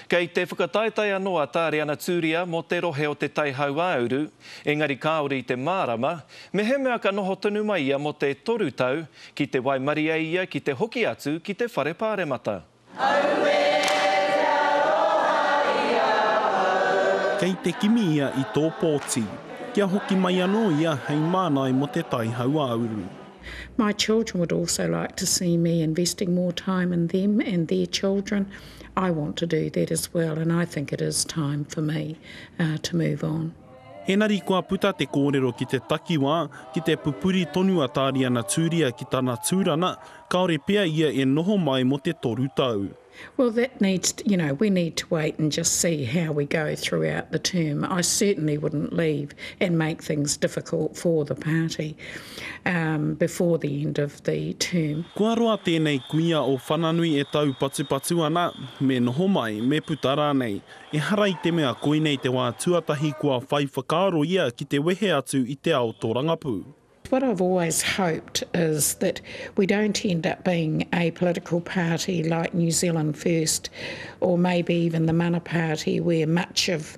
Kei te whakataetae anō a Tāreana Tūria mō te rohe o Te Tai Hauāuru, engari kāore i te mārama, mehemea ka noho tonu mai ia mō te toru tau, ki te waimarie ia ki te hoki atu ki te Whare Pāremata. Auē, te aroha i a au. Kei te kimi ia i tō pōti, kia hoki mai anō ia hei mānai mō Te Tai Hauāuru. My children would also like to see me investing more time in them and their children I want to do that as well and I think it is time for me to move on. Enari kua puta te kōrero ki te takiwā, ki te pupuri tonu a Tāriana Tūria ki tana tūrana, kāore pea ia e noho mai mō te toru tau. Well that needs, you know, we need to wait and just see how we go throughout the term. I certainly wouldn't leave and make things difficult for the party. before the end of the term. Kua roa tēnei kuia o Whananui e taupatupatu ana, me noho mai, me puta rānei. Ehara i te mea koinei te wā tuatahi kua whai whakaaro ia ki te wehe atu i te ao tōrangapū. What I've always hoped is that we don't end up being a political party like New Zealand First or maybe even the Mana Party where much of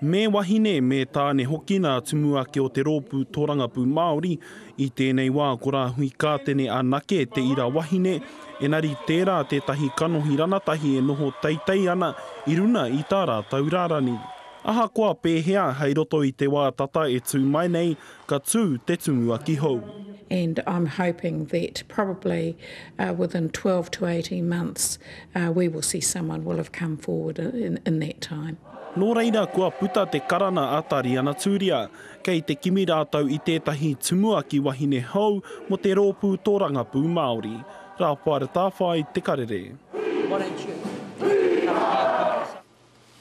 Me wahine, me tāne hoki nā Tumuake o te Rōpū Tōrangapū Māori, i tēnei wā ko Rāhui Kātene anake te ira wahine, engari tērā tētahi kanohi ranatahi e noho teitei ana i runa i tā rātou rarani. Ahakoa pēhea, hei roto i te wā tata e tū mai nei, Ka tū te Tumuaki hou. And I'm hoping that probably within twelve to eighteen months we will see someone will have come forward in that time. Nō reira kua puta te karana a Tariana Turia. Kei te kimi rātou i tētahi Tumuaki wahine hou mō te rōpū tōrangapū Māori. Raphael Tāwhai, Te Karere.